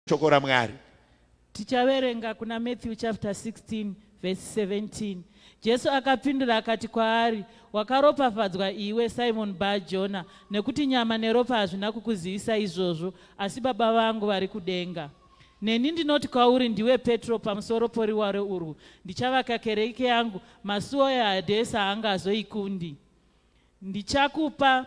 shoko ramwari tichaverenga kuna matthew chapter 16 verse 17 jesu akapindura akati kwaari wakaropafadzwa iwe simon bajona nekuti nyama neropa hazvina kukuzivisa izvozvo asi baba vangu vari kudenga Neni ndinoti kwauri ndiwe Petro pamusoro poriware urwu ndichavaka kereke yangu masuwo eHadesi haangazoikundi. Ndichakupa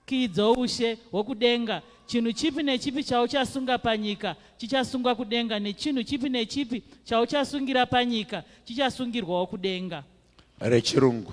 kiyi dzoushe hwokudenga chinhu chipi nechipi chauchasunga panyika chichasungwa kudenga nechinhu chipi nechipi chauchasungira panyika chichasungirwawo kudenga. Rechirungu.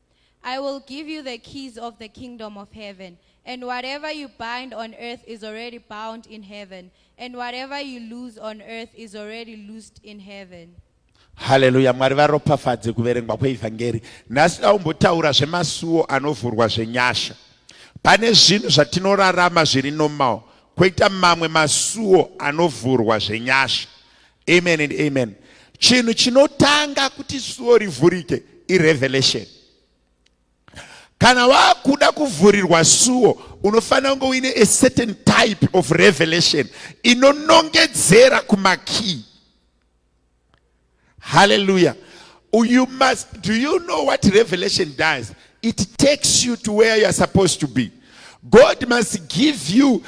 I will give you the keys of the kingdom of heaven, and whatever you bind on earth is already bound in heaven, and whatever you loose on earth is already loosed in heaven. haleluya mwari varopafadze kuverengwa kweevhangeri nhasi daumbotaura zvemasuwo anovhurwa zvenyasha pane zvinhu zvatinorarama zviri normal kwoita mamwe masuwo anovhurwa zvenyasha Amen and amen. Chinhu chinotanga kuti suo rivhurike irevelation. Kana wakuda kuvhurirwa suo unofanira kunge uine a certain type of revelation inonongedzera kumakii. Hallelujah. You must, do you know what revelation does? it takes you to where you're supposed to be god must give you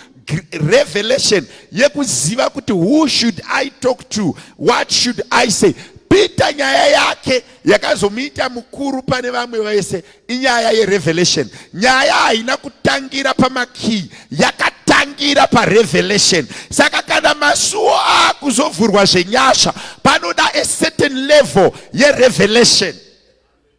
revelation yekuziva kuti who should i talk to what should i say peter nyaya yake yakazomuita mukuru pane vamwe vese inyaya yerevelation nyaya haina kutangira pamakiyi yakatangira parevelation saka kana masuwo akuzovhurwa zvenyasha panoda a certain level yerevelation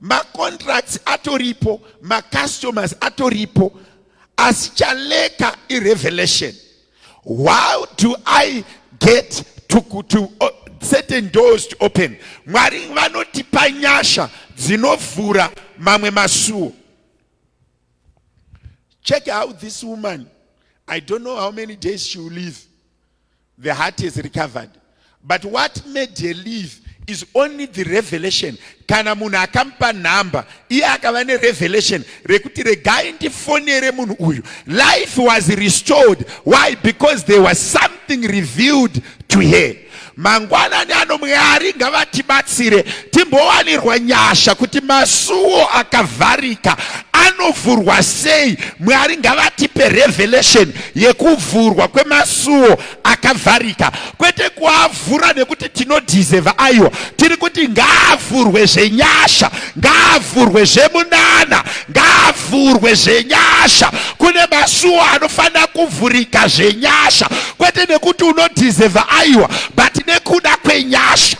macontracts atoripo macustomers atoripo asi chaleka irevelation how do i get to, to uh, certain doors to open mwari vanotipa nyasha dzinovhura mamwe masuo check out this woman i don't know how many days she will live The heart is recovered. But what made her leave is only the revelation. Kana munhu akampa nhamba, iye akava ne revelation rekuti regai ndifonere munhu uyu. Life was restored. Why? Because there was something revealed to her. Mangwanani ano Mwari ngavatibatsire timbowanirwa nyasha kuti masuwo akavharika anovhurwa sei. Mwari ngavatipe revelation. yekuvhurwa kwemasuwo akavharika kwete kuavhura nekuti tinodhizeva aiwa tiri kuti ngaavhurwe zvenyasha ngaavhurwe zvemunana ngaavhurwe zvenyasha kune masuwo anofanira kuvhurika zvenyasha kwete nekuti unodhizeva aiwa but nekuda kwenyasha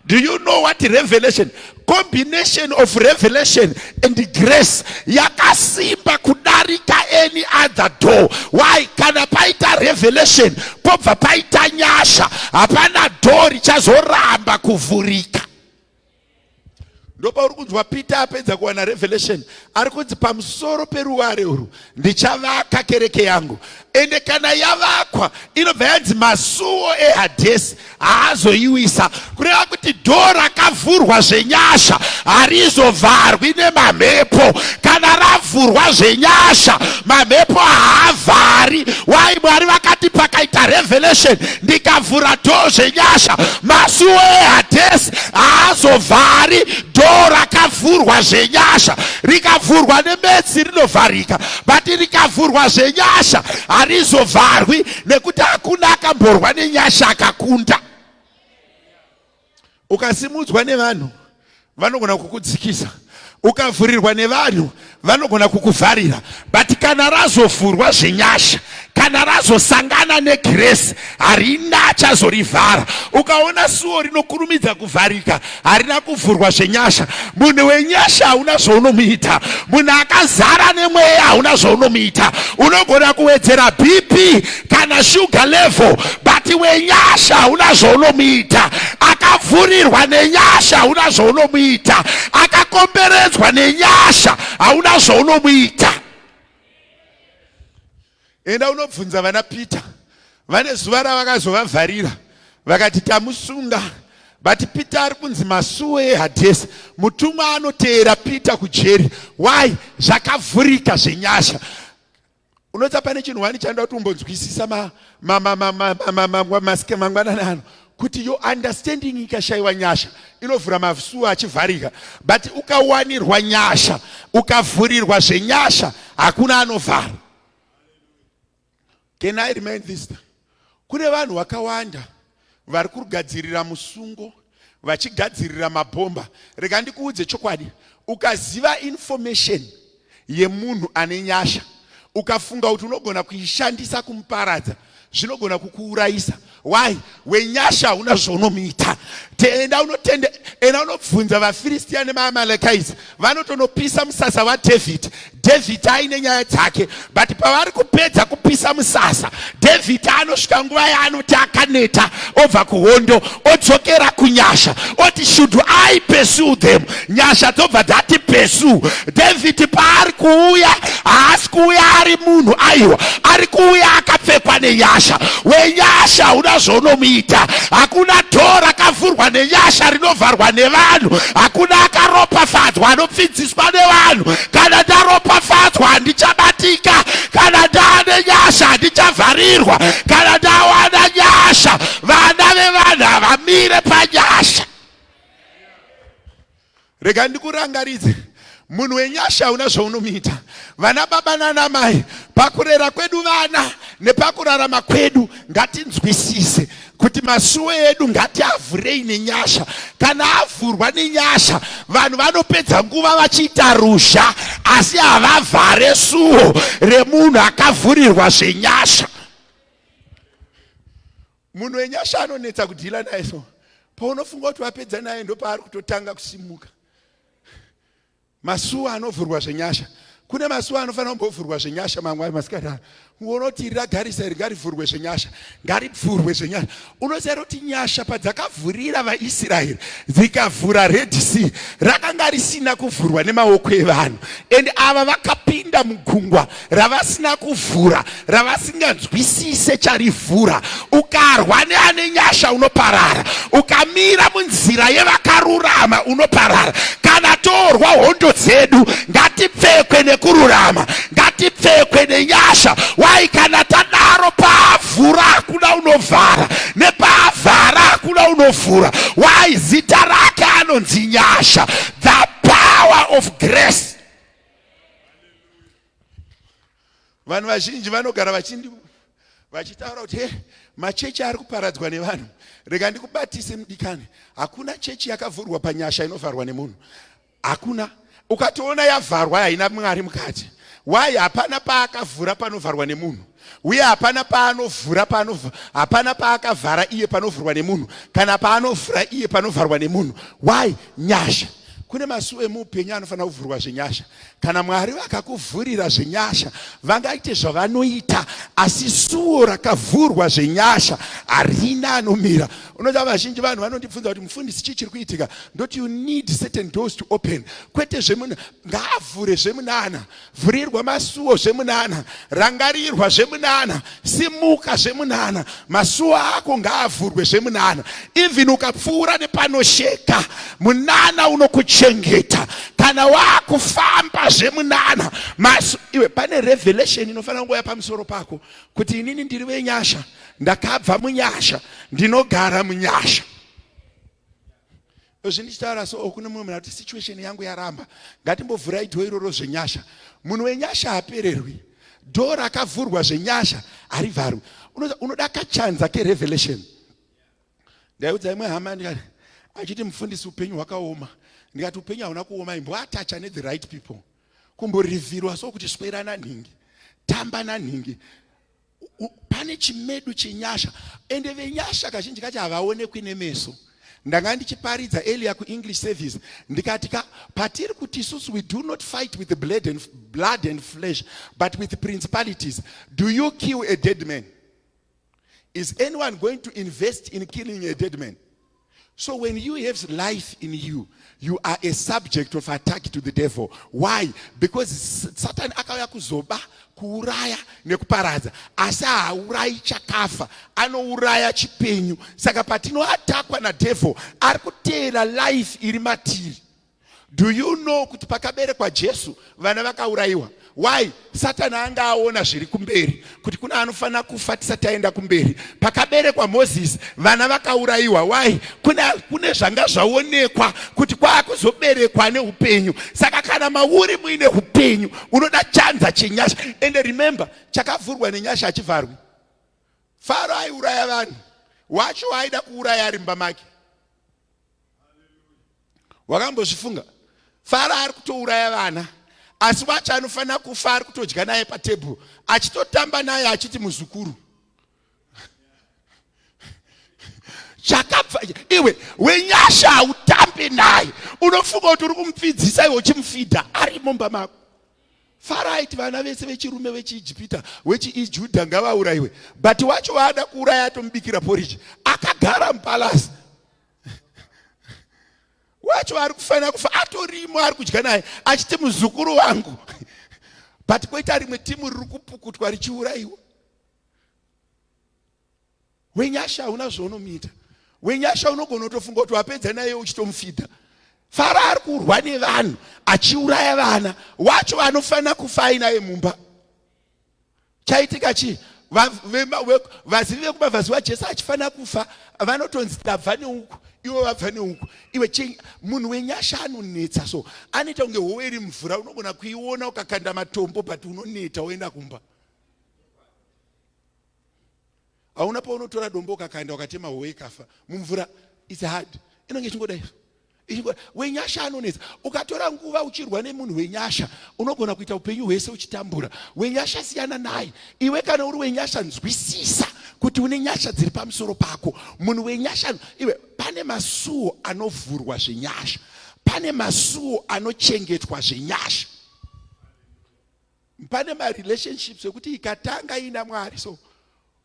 Do you know what revelation? Combination of revelation and grace yakasimba kudarika any other door. Why? Kana paita revelation pobva paita nyasha, hapana door richazoramba kuvhurika. Ndopauri kunzwa Peter apedza kuwana revelation, ari kunzi pamusoro peruware urwu Ndichavaka kereke yangu, ende kana yavakwa inobva yanzi masuwo ehadhesi haazoiwisa, kureva kuti dhoo rakavhurwa zvenyasha harizovharwi nemamhepo. Kana ravhurwa zvenyasha, mamhepo haavhari. Why? Mwari vakati pakaita revelation, ndikavhura dhoo zvenyasha, masuwo ehadhesi haazovhari, dhoo rakavhurwa zvenyasha rikavhurwa nemetsi rinovharika but rikavhurwa zvenyasha harizovharwi nekuti hakuna akamborwa nenyasha akakunda ukasimudzwa nevanhu vanogona kukudzikisa ukavhurirwa nevanhu vanogona kukuvharira but kana razovhurwa zvenyasha kana razosangana negiresi harina achazorivhara ukaona suwo rinokurumidza kuvharika harina kuvhurwa zvenyasha munhu wenyasha hauna zvaunomuita munhu akazara nemweya hauna zvaunomuita unogona kuwedzera bp kana sugar level but wenyasha hauna zvaunomuita akavhurirwa nenyasha hauna zvaunomuita akakomberedzwa nenyasha hauna zvaunomuita enda unobvunza vana peter vane zuva ravakazovavharira vakati tamusunga but peter ari kunzi masuwe ehadhesi mutumwa anoteera peter kujeri why zvakavhurika zvenyasha unoita pane chinhu wani chanoda kuti umbonzwisisa maske mangwanana ano kuti yo understanding ikashayiwa nyasha inovhura masuwa achivharika but ukawanirwa nyasha ukavhurirwa zvenyasha hakuna anovhara can i remind this Kune vanhu vakawanda vari kugadzirira musungo vachigadzirira mabhomba. Rega ndikuudze chokwadi, ukaziva information yemunhu ane nyasha ukafunga kuti unogona kuishandisa kumuparadza zvinogona kukuurayisa why wenyasha hauna zvaunomuita enda unotende enda unobvunza vafiristiya nemaamalekais vanotonopisa musasa wadhavhidhi dhavhidhi aine nyaya dzake but pavari kupedza kupisa musasa dhavhidhi anosvika nguva yaanoti akaneta obva kuhondo odzokera kunyasha oti should i pursue them nyasha dzobva dzati pursue dhavhidhi paari kuuya haasi kuuya ari munhu aiwa ari kuuya akapfekwa nenyasha wenyasha hauna zvaunomuita hakuna dhoo rakavhurwa nenyasha rinovharwa nevanhu hakuna akaropafadzwa anopfidziswa nevanhu kana ndaropafadzwa handichabatika kana ndaane nyasha handichavharirwa kana ndawana nyasha vana vevanhu havamire panyasha Rega ndikurangaridze munhu wenyasha hauna zvaunomuita vana baba nana mai pakurera kwedu vana nepakurarama kwedu ngatinzwisise kuti masuwo edu ngatiavhurei nenyasha kana avhurwa nenyasha vanhu vanopedza nguva vachiita ruzha asi havavhare suwo remunhu akavhurirwa zvenyasha munhu wenyasha anonetsa kudhila naye so paunofunga kuti wapedza naye ndopaari kutotanga kusimuka masuwa anovhurwa zvenyasha kune masuwa anofanira kumbovhurwa zvenyasha mangwari masikati ano uona kuti iri ragarisa iri ngarivhurwe zvenyasha ngaripfurwe zvenyasha unoziva kuti nyasha padzakavhurira vaisraeri dzikavhura red sea rakanga risina kuvhurwa nemaoko evanhu and ava vakapinda mugungwa ravasina kuvhura ravasinganzwisise charivhura ukarwa neane nyasha unoparara ukamira munzira yevakarurama unoparara kana torwa hondo dzedu ngatipfekwe nekururama ngatipfekwe nenyasha wai kana tadaro paavhura hakuna unovhara nepaavhara hakuna unovhura wai zita rake anonzi nyasha the power of grace vanhu vazhinji vanogara vachindi vachitaura kuti he machechi ari kuparadzwa nevanhu rega ndikubatise mudikani hakuna chechi yakavhurwa panyasha inovharwa nemunhu hakuna ukatoona yavharwa haina mwari mukati why hapana paakavhura panovharwa nemunhu uye hapana paanovhura paanov hapana paakavhara iye panovhurwa nemunhu kana paanovhura iye panovharwa nemunhu why nyasha kune masuo emuupenyu anofanira kuvhurwa zvenyasha kana mwari vakakuvhurira zvenyasha vangaite zvavanoita asi suo rakavhurwa zvenyasha harina anomira unoda vazhinji vanhu vanondibvunza kuti mufundisi chii chiri kuitika ndoti you need certain doors to open kwete zvemunhu ngaavhure zvemunana Vhurirwa masuwo zvemunana, rangarirwa zvemunana, simuka zvemunana. Masuwo ako ngaavhurwe zvemunana. Even ukapfuura nepanosheka, munana unokuchengeta. Kana wakufamba zvemunana, masu iwe pane revelation inofanira kungoya pamusoro pako kuti inini ndiri wenyasha, ndakabva munyasha, ndinogara munyasha. Izvi ndichitaura so kune mumwe munhu ati situation yangu yaramba. Ngatimbovhurai door iroro zvenyasha. Munhu wenyasha hapererwi. Door rakavhurwa zvenyasha harivharwi. Unoda kachanza kerevelation. Ndaiudza imwe hama ndikati achiti mufundisi upenyu hwakaoma. Ndikati upenyu hauna kuoma imbwa atacha ne the right people. Kumborivirwa so kuti swera nanhingi. Tamba nanhingi. pane chimedu chenyasha ende venyasha kazhinji kacho havaonekwi nemeso ndanga ndichiparidza elia kuenglish service ndikati ka patiri kuti isusu we do not fight with blood and, blood and flesh but with principalities do you kill a dead man is anyone going to invest in killing a dead man So when you have life in you, you are a subject of attack to the devil. Why? Because Satan akauya kuzoba, kuuraya nekuparadza. Asi haurayi chakafa, anouraya chipenyu. Saka patinoatakwa na devil, ari kuteera life iri matiri. Do you know kuti pakaberekwa Jesu vana vakaurayiwa? Why? Satani anga aona zviri kumberi kuti kuna anofanira kufa tisati taenda kumberi. Pakaberekwa Moses vana vakaurayiwa. Why? Kune, kune zvanga zvaonekwa kuti kwaakuzoberekwa neupenyu. Saka kana mauri muine upenyu unoda chanza chenyasha. And remember, chakavhurwa nenyasha hachivharwi. Faro aiuraya vanhu wacho aida kuuraya ari mumba make. wakambozvifunga faro ari kutouraya vana asi wacho anofanira kufa ari kutodya naye patebhuru achitotamba naye achiti muzukuru chakabva iwe wenyasha hautambe naye unofunga kuti uri kumupfidzisa iwe uchimufidha ari mumba mako faro aiti vana vese vechirume vechiijipita wechiijudha ngavaurayiwe but wacho waada kuuraya atomubikira poriji akagara mupalasi wacho ari kufanira kufa atorimo ari kudya naye achiti muzukuru wangu but koita rimwe timu riri kupukutwa richiurayiwa wenyasha hauna zvaunomuita wenyasha unogona kutofunga kuti wapedza naye uchitomufidha faro ari kurwa nevanhu achiuraya vana wacho vanofanira kufa ainaye mumba chaitika chii vazivi vekuba vaziva jesu achifanira kufa vanotonzi tabva neuku ivo vabva neuku iwe munhu wenyasha anonetsa so anoita kunge howe iri mvura unogona kuiona ukakanda matombo but unoneta woenda kumba hauna paunotora dombo ukakaenda ukatema howe ikafa mumvura its hard inenge ichingoda izvo wenyasha anonetsa ukatora nguva uchirwa nemunhu wenyasha unogona kuita upenyu hwese uchitambura wenyasha siyana naye iwe kana uri wenyasha nzwisisa kuti une nyasha dziri pamusoro pako munhu wenyasha iwe pane masuo anovhurwa zvenyasha pane masuo anochengetwa zvenyasha pane marelationships ekuti ikatanga ina mwari so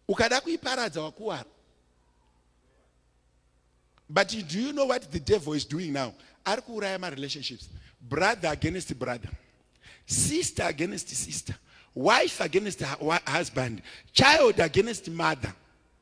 ukada kuiparadza wakuwara but do you know what the devil is doing now ari kuuraya marelationships brother against brother sister against sister wife against husband child against mother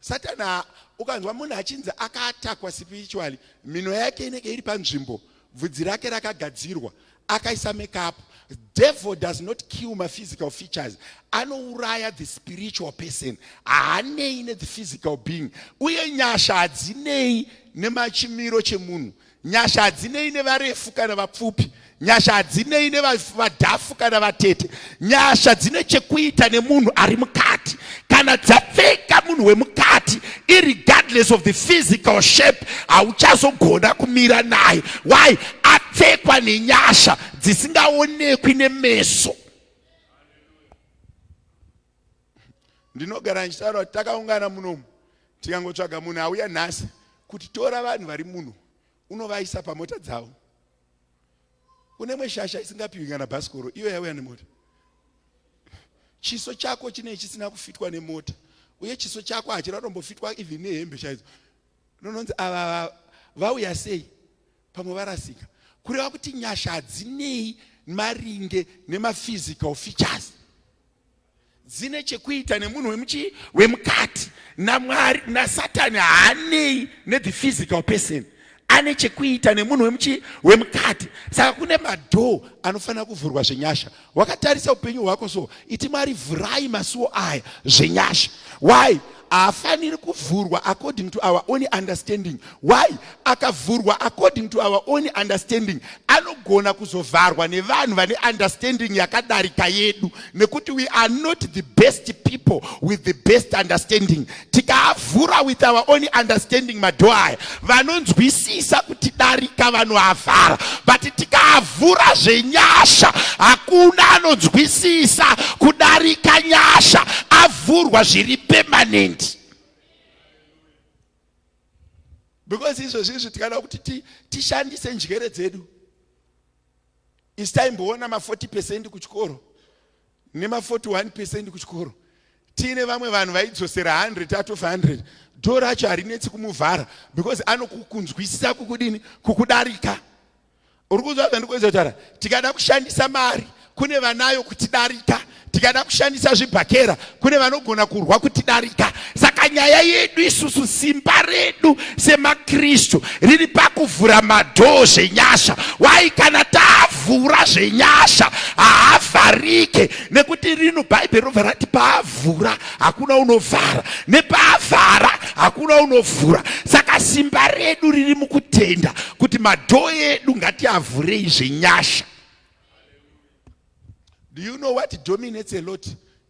Satani ha- ukanzwa munhu achinzi akaatakwa spiritually mhino yake inenge iri panzvimbo bvudzi rake rakagadzirwa akaisa makeup devil does not kill my physical features anouraya the spiritual person haanei ne the physical being uye nyasha hadzinei nemachimiro chemunhu Nyasha hadzinei nevarefu kana vapfupi. Nyasha hadzinei nevadhafu kana vatete. Nyasha dzine chekuita nemunhu ari mukati. Kana dzapfeka munhu wemukati, irregardless of the physical shape, hauchazogona kumira naye. Why? Apfekwa nenyasha dzisingaonekwi nemeso. ndinogara ndichitaura kuti takaungana munomu tikangotsvaga munhu auya nhasi kuti tora vanhu vari muno unovaisa pamota dzavo unemwe shasha isingapiwi kana bhasikoro iyo yauya nemota chiso chako chinei chisina kufitwa nemota uye chiso chako hachina kutombofitwa even nehembe chaidzo nononzi ava vauya sei pamwe varasika kureva kuti nyasha hadzinei maringe nemaphysical features dzine chekuita nemunhu wemuchii wemukati namwari nasatani haanei nethe physical person ane chekuita nemunhu wemuchii wemukati saka kune madhoo anofanira kuvhurwa zvenyasha wakatarisa upenyu hwako so iti mwari vhurai masuwo aya zvenyasha why haafaniri kuvhurwa according to our own understanding why akavhurwa according to our own understanding anogona kuzovharwa nevanhu vane understanding yakadarika yedu nekuti we are not the best people with the best understanding tikaavhura with our own understanding madhoo aya vanonzwisisa kuti darika vanoavhara but tikaavhura zvenyasha hakuna anonzwisisa kudarika nyasha avhurwa zviri permanent because izvozvi izvi tikada kuti tishandise ti njere dzedu istaimboona ma40 percent kuchikoro nema 41 percent kuchikoro tiine vamwe vanhu vaidzosera 100 out of 100 dho racho harinetsi kumuvhara because anokukunzwisisa kukudini kukudarika uri kunzwa zvandikuedza kutaura tikada kushandisa mari kune vanayo kutidarika tikada kushandisa zvibhakera kune vanogona kurwa kutidarika saka nyaya yedu isusu simba redu semakristu riri pakuvhura madhoo zvenyasha wai kana tavhura zvenyasha haavharike nekuti rino bhaibheri robva rati paavhura hakuna unovhara nepaavhara hakuna unovhura saka simba redu riri mukutenda kuti madhoo edu ngatiavhurei zvenyasha do you know what dominates a lot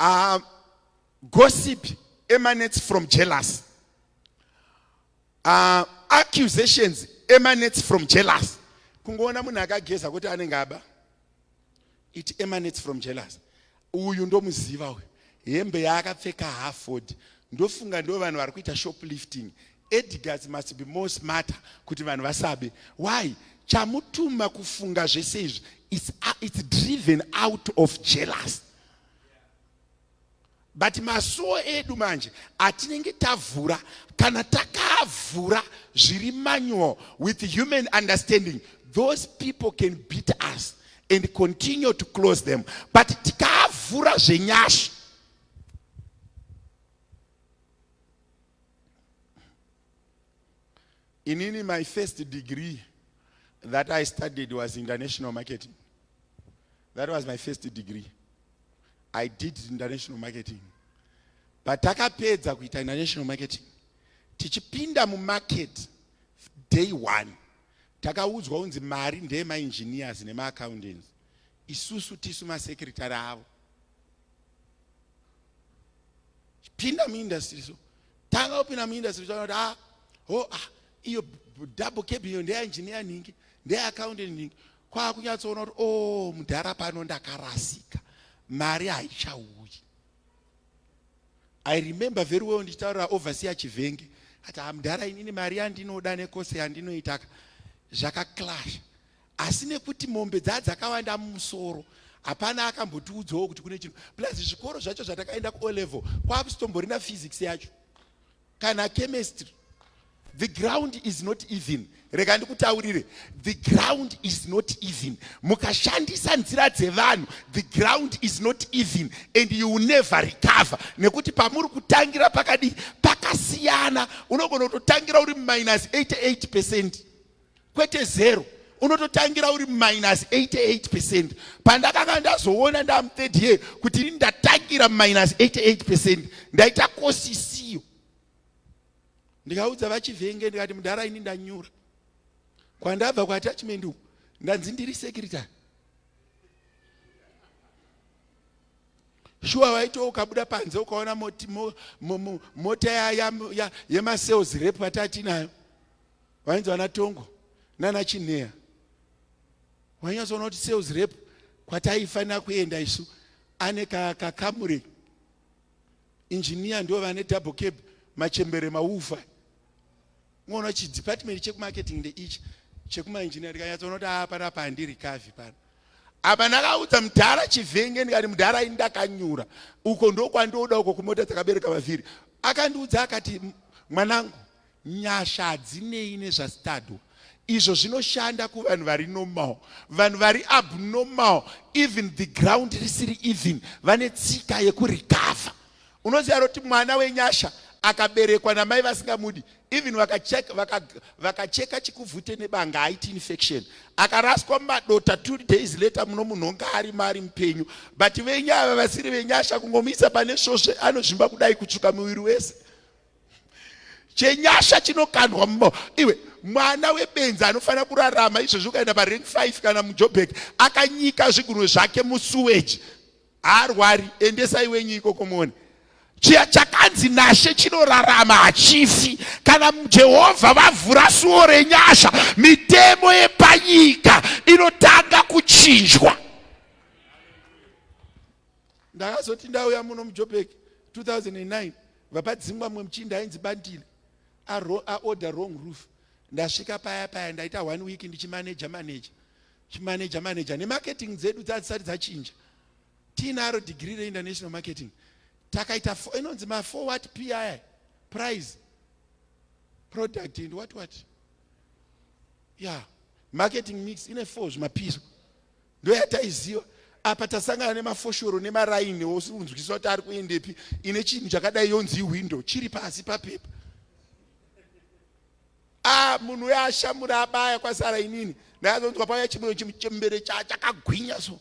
Uh, gossip emanates from jealous. Uh, accusations emanates from jealous. Kungoona munhu akageza kuti anenge aba. It emanates from jealous. Uyu ndomuziva uyu. Hembe yaakapfeka haafodi. Ndofunga ndo vanhu vari kuita shoplifting. Edgars must be more smarter kuti vanhu vasabe. Why? Chamutuma kufunga zvese izvi. It's, uh, it's driven out of jealous. but masuo edu manje atinenge tavhura kana takavhura zviri manual with human understanding those people can beat us and continue to close them but tikaavhura zvenyasha Inini my first degree that I studied was international marketing. That was my first degree. I did international marketing. But takapedza kuita international marketing. Tichipinda mu market day one. Takaudzwa unzi mari ndeye ma engineers nema accountants. Isusu tisu ma secretary avo. Pinda mu industry so tanga kupinda muindustry taona kuti ah ho ah iyo double cabin iyo ndeya engineer nhingi ndeya accountant nhingi kwakunyatsoona kuti oh mudhara pano ndakarasika mari haichauyi i remember very well ndichitaurira overseer chivenge ati hamudhara ah, inini mari yandinoda nekose yandinoitaka zvakaklasha asi nekuti mombe dzaa dzakawanda mumusoro hapana akambotiudzawo kuti kune chinhu plus zvikoro zvacho zvatakaenda kuo level kwakusitomborina physics yacho kana chemistry the ground is not even rega ndikutaurire the ground is not even mukashandisa nzira dzevanhu the ground is not even and you will never recover nekuti pamuri kutangira pakadii pakasiyana unogona kutotangira uri minus 88 percent kwete zero unototangira uri minus 88 percent pandakanga ndazoona ndamuthird year kuti ini ndatangira minus 88 percent ndaita kosi isiyo ndikaudza vachivhenge ndikati mudhara ini ndanyura kwandabva kuattachment uku ndanzi ndiri secretary shuwa waito ukabuda panze ukaona mota yaya yemasales rep atati nayo vainzi vana tongo nana chinheya wainyatsoona kuti sales rep kwataifanira kuenda isu ane kakamure injiniya ndo vane double cab machembere maufa unoona kuti chidepartment chekumarketing ndeichi chekumainjiniya ndikanyatsoona kuti aa panapa handiri kavi pano apa ndakaudza mudhara chivenge ndikati mudhara ini ndakanyura uko ndokwandoda uko kumota dzakabereka vavhiri akandiudza akati mwanangu Nyasha hadzinei nezvastadwa izvo zvinoshanda kuvanhu vari normal vanhu vari abnormal even the ground risiri even vane tsika yekurecover unoziva roti mwana wenyasha akaberekwa namai vasingamudi even vakacheka vaka, vaka chikuvhute nebanga aiti infection akaraswa mumadota two days later muno munhu onga ari maari mupenyu but venyaya vasiri venyasha kungomuisa pane svosve anozvimba kudai kutsvuka muviri wese chenyasha chinokandwa mumao iwe mwana webenzi anofanira kurarama izvezvi ukaenda parank 5 kana mujobek akanyika zvigunwe zvake musuweji haarwari endesai wenyu ikoko muone chiya chakanzi nashe chinorarama hachifi kana jehovha vavhura suwo renyasha mitemo yepanyika inotanga kuchinjwa ndakazoti ndauya muno mujobek 2009 vapadzingwa mumwe muchinda ainzi bandile aorder wrong roof ndasvika paya paya ndaita one week ndichimaneja maneja chimaneja maneja nemarketing dzedu dzadzisati dzachinja tiinaro degree reinternational marketing takaita inonzi mafour wat pi prize product and what what ya yeah. marketing mix ine four zvimapiso ndoyataiziva apa tasangana nemafoshoro nemaraini osinzwiswa kuti ari kuendepi ine chinhu chakadai yonzi hwindo chiri pasi papepa a munhu uyo ashamura abaya kwasara inini ndakazonzwa pauya chimwe chembere chakagwinya so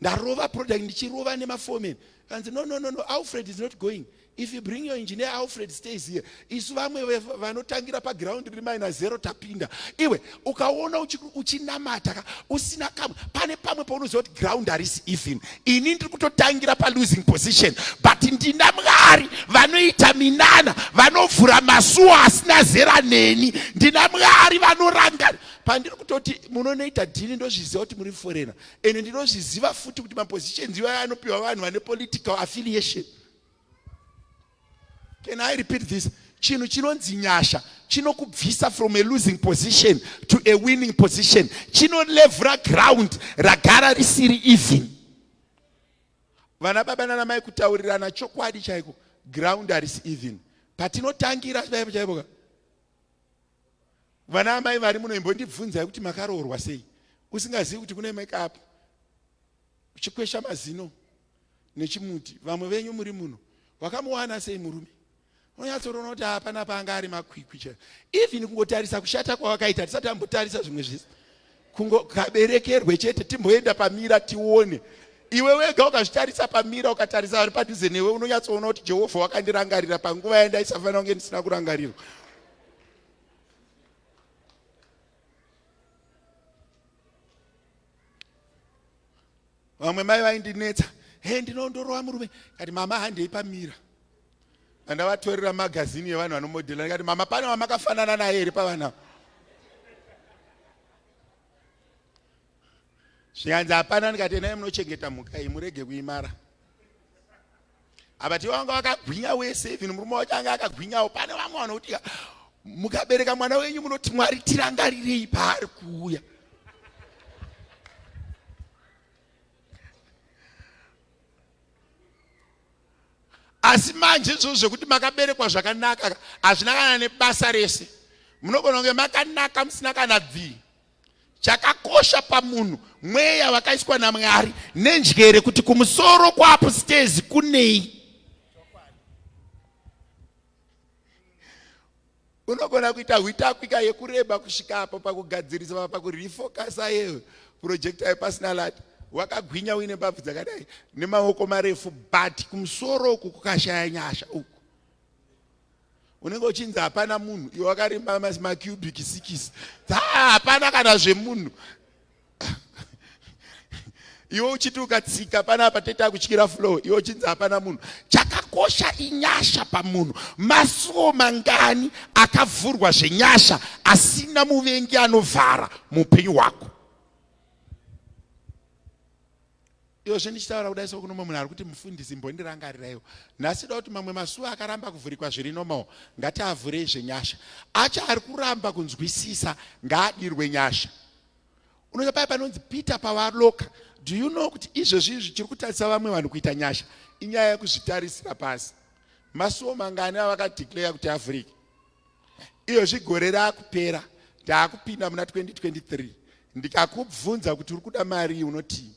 ndarova product ndichirova nemafomen kanzi no no no no alfred is not going If you bring your engineer Alfred stays here. Isu vamwe vanotangira pa ground riri minus zero tapinda. Iwe ukaona uchinamata ka usina kamwe pane pamwe paunoziva kuti ground harisi even. Ini ndiri kutotangira pa losing position but ndina Mwari vanoita minana vanovhura masuo asina zera neni. Ndina Mwari vanoranga pandiri kutoti munonoita dhini ndozviziva kuti muri foreigner and ndinozviziva futi kuti mapositions iwayo anopiwa vanhu vane political affiliation. Can I repeat this? chinhu chinonzi nyasha chinokubvisa from a losing position to a winning position chinolevhura ground ragara risiri even vana baba nana mai kutaurirana chokwadi chaiko ground harisi even patinotangira chaipo chaipoka vana amai vari muno imbondibvunzai kuti makaroorwa sei usingazivi kuti kune makeup uchikwesha mazino nechimuti vamwe venyu muri muno wakamuwana sei murume unonyatsorona kuti hapana paanga ari makwikwi chero even kungotarisa kushata kwawakaita tisati ambotarisa zvimwe zvese kungokaberekerwe chete timboenda pamira tione iwe wega ukazvitarisa pamira ukatarisa ari padhuze newe unonyatsoona kuti jehovha wakandirangarira panguva yandaisafanira kunge ndisina kurangarirwa vamwe mai vaindinetsa he ndinondorova murume kati mama handei pamira andavatorera magazini yevanhu vanomodhela ndikati mama pane wamakafanana naye here pavana zvikanzi hapana ndikati enai munochengeta mhuka iyi murege kuimara abati vanga vakagwinya wese even murume wacho anga akagwinyawo pane vamwe vanokuti mukabereka mwana wenyu munoti mwari tirangarirei paari kuuya asi manje izvozvo zvekuti makaberekwa zvakanaka hazvina kana nebasa rese munogona kunge makanaka musina kana bvii chakakosha pamunhu mweya vakaiswa namwari nenjere kuti kumusoro kwaapustezi kunei unogona kuita hwitakwika yekureba kusvika apo pakugadzirisa pa pakurefokasa yeyo purojekta yepasina lati wakagwinya uine mbabvu dzakadai nemaoko marefu but kumusoro uku kukashaya nyasha uku unenge uchinzi hapana munhu iwe wakarimba macubic sikisi hapana kana zvemunhu iwe uchiti ukatsika panapa tete akutyira flow iwe uchinzi hapana munhu chakakosha inyasha pamunhu masuwo mangani akavhurwa zvenyasha asina muvengi anovhara muupenyu hwako Iyo zve ndichitaura kudai so kunomwe munhu ari kuti mufundisi mbondirangariraiwo. Nhasi da kuti mamwe masuwa akaramba kuvhurikwa zviri normal ngatiavhure izve nyasha. Acha ari kuramba kunzwisisa ngaadirwe nyasha. Unoita paya panonzi Peter pawaloka do you know kuti izvezvi izvi chiri kutarisa vamwe vanhu kuita nyasha inyaya yekuzvitarisira pasi masuwo mangani avakadeclare kuti avhurike iyozvi gore raakupera taakupinda muna 2023 ndikakubvunza kuti uri kuda marii unotii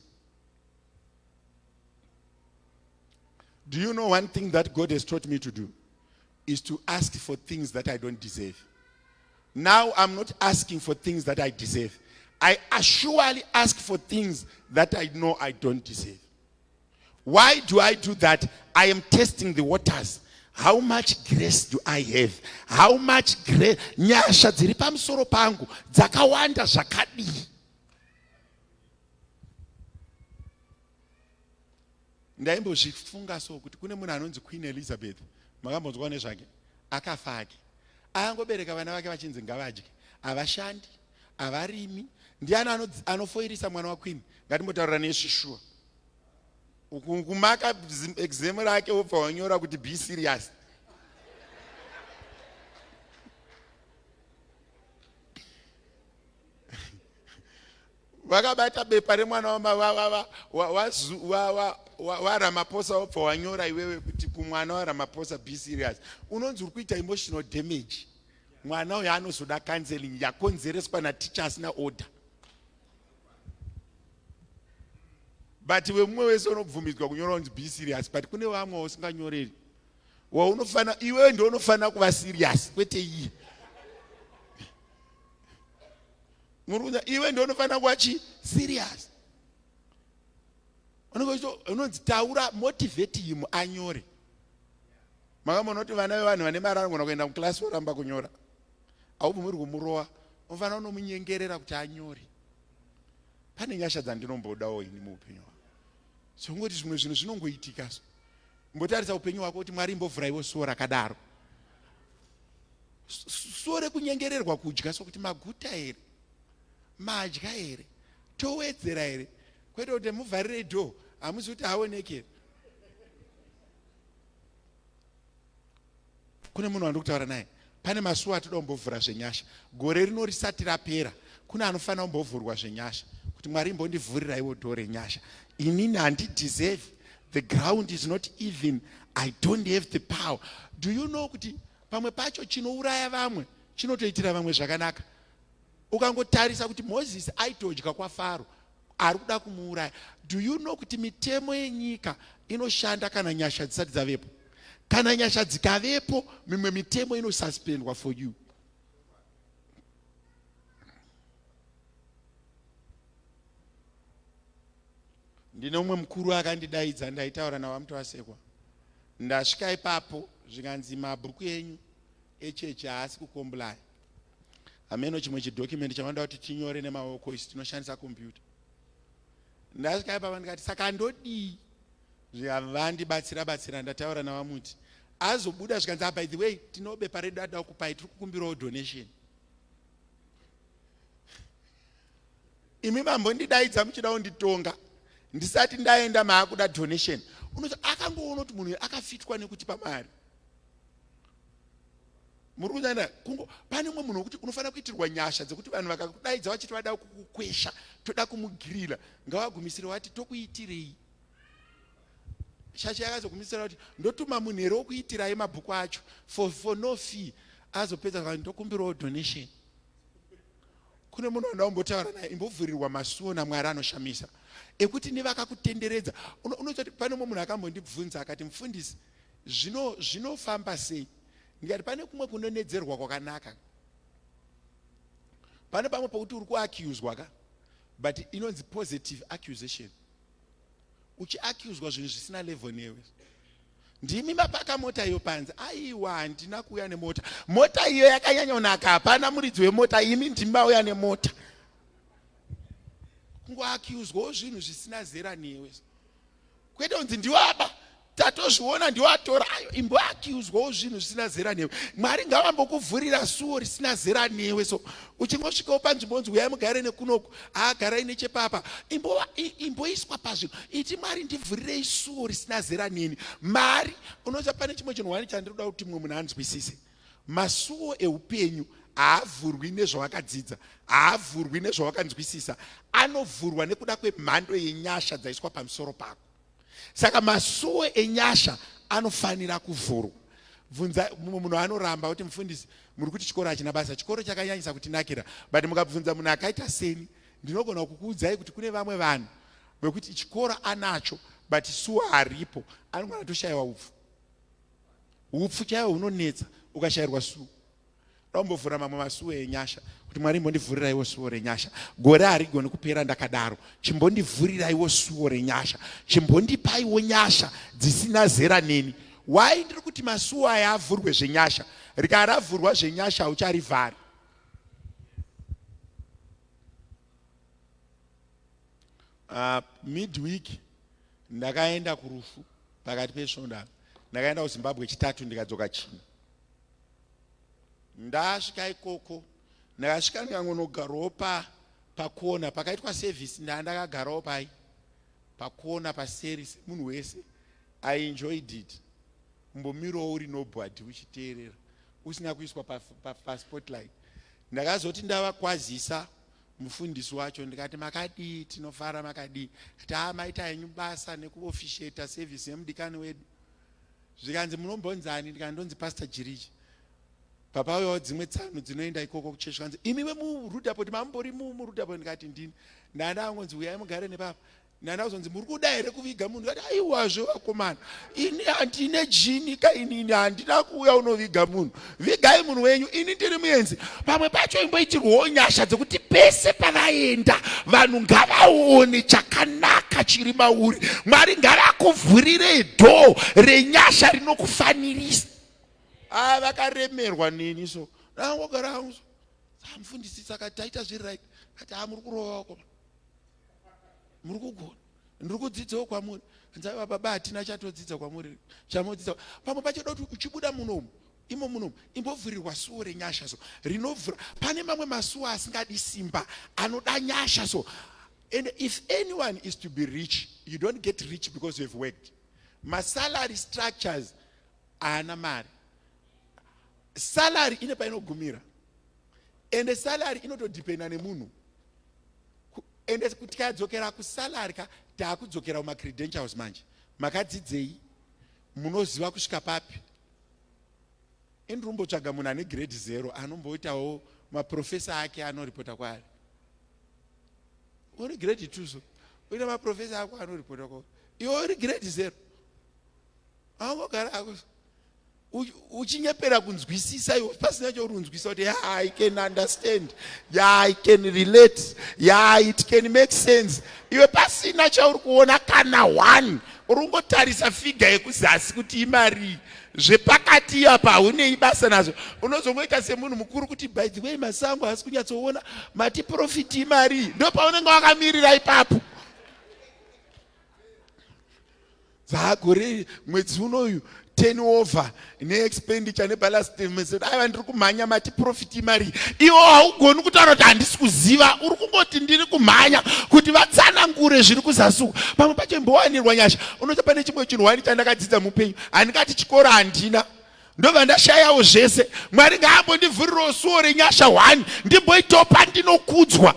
do you know one thing that god has taught me to do is to ask for things that i don't deserve now i'm not asking for things that i deserve i surely ask for things that i know i don't deserve Why do I do that? I am testing the waters. How much grace do I have? How much grace? Nyasha dziri pamusoro pangu dzakawanda zvakadii? ndaimbozvifunga so kuti kune munhu anonzi queen elizabeth makambonzwa nezvake akafa ake ayangobereka vana vake vachinzi ngavadye havashandi havarimi ndiani anofoirisa mwana waqueen ngatimbotaurira nesvishuwa ukumaka exam rake wobva wanyora kuti be serious vakabata bepa remwana wamavavava waramaposa wobva wanyora iwewe kuti kumwana waramaposa be serious unonzi uri kuita emotional damage mwana uyo anozoda counseling yakonzereswa naticha asina order but vemumwe wese unobvumidzwa kunyora unzi be serious but kune vamwe usinganyoreri waunofana iwewe ndo unofanira kuva serious kwete iye muri kunza iwe ndo unofanira kuva chi serious unonzi taura motivate him anyore makamona kuti vana vevanhu vane marangona kuenda muclass voramba kunyora haubvumiri kumurova unofanira unomunyengerera kuti anyore pane nyasha dzandinombodawo ini muupenyu hwako songoti zvimwe zvinhu zvinongoitika so mbotarisa upenyu hwako kuti mwari imbovhuraiwo suwo rakadaro suwo rekunyengererwa kudya sokuti maguta here madya here towedzera here kwete kuti muvharire dho hamusi kuti haoneke kune munhu wandiri kutaura naye pane masuwa atoda kumbovhura zvenyasha gore rino risati rapera kune anofanira kumbovhurwa zvenyasha kuti mwari imbondivhuriraiwo dho renyasha inini handideserve the ground is not even i don't have the power do you know kuti pamwe pacho chinouraya vamwe chinotoitira vamwe zvakanaka ukangotarisa kuti mozisi aitodya kwafaro ari kuda kumuuraya do you know kuti mitemo yenyika inoshanda kana nyasha dzisati dzavepo kana nyasha dzikavepo mimwe mitemo inosuspendwa for you ndine umwe mukuru akandidaidza ndaitaura navo amuti vasekwa ndasvika ipapo zvikanzi mabhuku enyu echechi haasi kukomblaya hameno chimwe chidocument chavanoda kuti tinyore nemaoko isu tinoshandisa kompyuta ndasvika ipa vandikati saka andodii zvivandibatsira batsira ndataura navamuti azobuda zvikanzi ah, by the way tinobepa redu ada kukupai tiri kukumbirawo donation imi mambo ndidaidza muchida kunditonga ndisati ndaenda maakuda donation unoti akangoona kuti munhu akafitwa nekuti pamari muri kunyanya kungo pane umwe munhu wekuti unofanira kuitirwa nyasha dzekuti vanhu vakakudaidza vachiti vada kukukwesha toda kumugirira ngavagumisire wati tokuitirei shasha yakazogumisira kuti ndotuma munhu here wokuitirai mabhuku acho for, for no fee azopedza vanhu ndokumbirawo donation kune munhu wanda umbotaura naye imbovhurirwa masuo namwari anoshamisa ekuti nevakakutenderedza unoita kuti pane umwe munhu akambondibvunza akati mufundisi Zvino zvinofamba sei? Ndikati pane kumwe kunonedzerwa kwakanaka. Pane pamwe pokuti uri kuaccuswa ka but inonzi positive accusation. Uchiaccuswa zvinhu zvisina level newe. Ndimi mapaka mota iyo panze. Aiwa handina kuuya nemota. Mota iyo yakanyanya kunaka hapana muridzi wemota imi ndimi mauya nemota. Kungoaccuswa zvinhu zvisina zera newe. Kwete unzi ndiwaba tatozviona ndiwo atora ayo imbo akiuzwawo zvinhu zvisina zera newe mwari ngavambokuvhurira suwo risina zera newe so uchingosvikawo panzvimbo onzi uyai mugare nekunoku aagarai nechepapa imboiswa pazvinhu iti mwari ndivhurirei suwo risina zera neni mari unoziva pane chimwe chinhu wani chandinoda kuti mumwe munhu anzwisise masuwo eupenyu haavhurwi nezvawakadzidza haavhurwi nezvawakanzwisisa anovhurwa nekuda kwemhando yenyasha dzaiswa pamusoro pako saka masuo enyasha anofanira kuvhurwa bvunza mumwe munhu anoramba kuti mufundisi muri kuti chikoro hachina basa chikoro chakanyanyisa kutinakira but mukabvunza munhu akaita seni ndinogona kukuudzai kuti kune vamwe vanhu vekuti chikoro anacho but suwa haripo anogona toshayiwa upfu upfu chaiwo hunonetsa ukashayirwa suwa ndambovhura mamwe masuo enyasha kuti mwari imbondivhuriraiwo suo renyasha gore harigoni kupera ndakadaro chimbondivhuriraiwo suo renyasha chimbondipaiwo nyasha dzisina zera neni why ndiri kuti masuo aya avhurwe zvenyasha rikaravhurwa zvenyasha haucharivhari uh, ah, midweek ndakaenda kurufu pakati pesvondo ndakaenda kuzimbabwe chitatu ndikadzoka china Ndasvika ikoko ndakasvika ndikangonogarawo pa pakona pakaitwa service ndaa ndakagarawo pai pakona paseri semunhu wese i enjoyed it kumbomirawo uri nobody uchiteerera usina kuiswa paspotlight pa, pa ndakazoti ndavakwazisa mufundisi wacho ndikati makadii tinofara makadii ati haa maita henyu basa nekuofisheta service yemudikani wedu zvikanzi munombonzani ndikana ndonzi pastor jiriji papauyawo dzimwe tsano dzinoenda ikoko kuchechi zvikanzi imi vemurudapoti mambori murudapoti ndikati ndini ndanda angonzi uyai mugare nepapa ndanda kuzonzi muri kuda here kuviga munhu kati aiwazve vakomana ini handine jini ka inini handina kuuya unoviga munhu vigai munhu wenyu ini ndiri muenzi pamwe pacho imboitirwawo nyasha dzekuti pese pavaenda vanhu ngavaone chakanaka chiri mauri mwari ngavakuvhurirei dhoo renyasha rinokufanirisa a ah, vakaremerwa neni so ndangogara hangu so amufundisisa kati taita zviri right kati a ah, muri kurova wako muri kugona ndiri kudzidzawo kwamuri nzaiva baba hatina chatodzidza kwamuri chamodzidza pamwe pacho doti uchibuda munomu imo munomu imbovhurirwa suwo renyasha so rinovhura pane mamwe masuwo asingadi simba anoda nyasha so and if anyone is to be rich you don't get rich because you have worked masalary structures haana mari salary ine painogumira ende salary inotodependa nemunhu ende tikadzokera kusalary ka taakudzokera kuma credentials manje makadzidzei munoziva kusvika papi ini rumbotsvaga munhu ane grade zero anomboitawo maprofesa ake anoripota kwaari uri grade two so uine maprofesa ako anoripota kwaari iwe uri grade zero aungogara ako uchinyepera kunzwisisa iwe pasina chourunzwisa kuti ya i can understand ya i can relate ya it can make sense iwe pasina chauri kuona kana one uri kungotarisa figa yekuzasi kuti imarii zvepakati iyapa haunei basa nazvo unozongoita semunhu mukuru kuti by the way masango haasi kunyatsoona mati profiti imarii ndo paunenge wakamirira ipapo dzagore mwedzi unoyu ten over neexpenditure nebalance deficit aiva ndiri kumhanya mati profit imari iwo haugoni kutaura kuti handisi kuziva uri kungoti ndiri kumhanya kuti vatsanangure zviri kuzasuku pamwe pacho imbowanirwa nyasha unoti pane chimwe chinhu wani chandakadzidza mupenyu handingati chikoro handina ndobva ndashayawo zvese mwari ngaambondivhurirawo suwo renyasha hwani ndimboitawo pandinokudzwa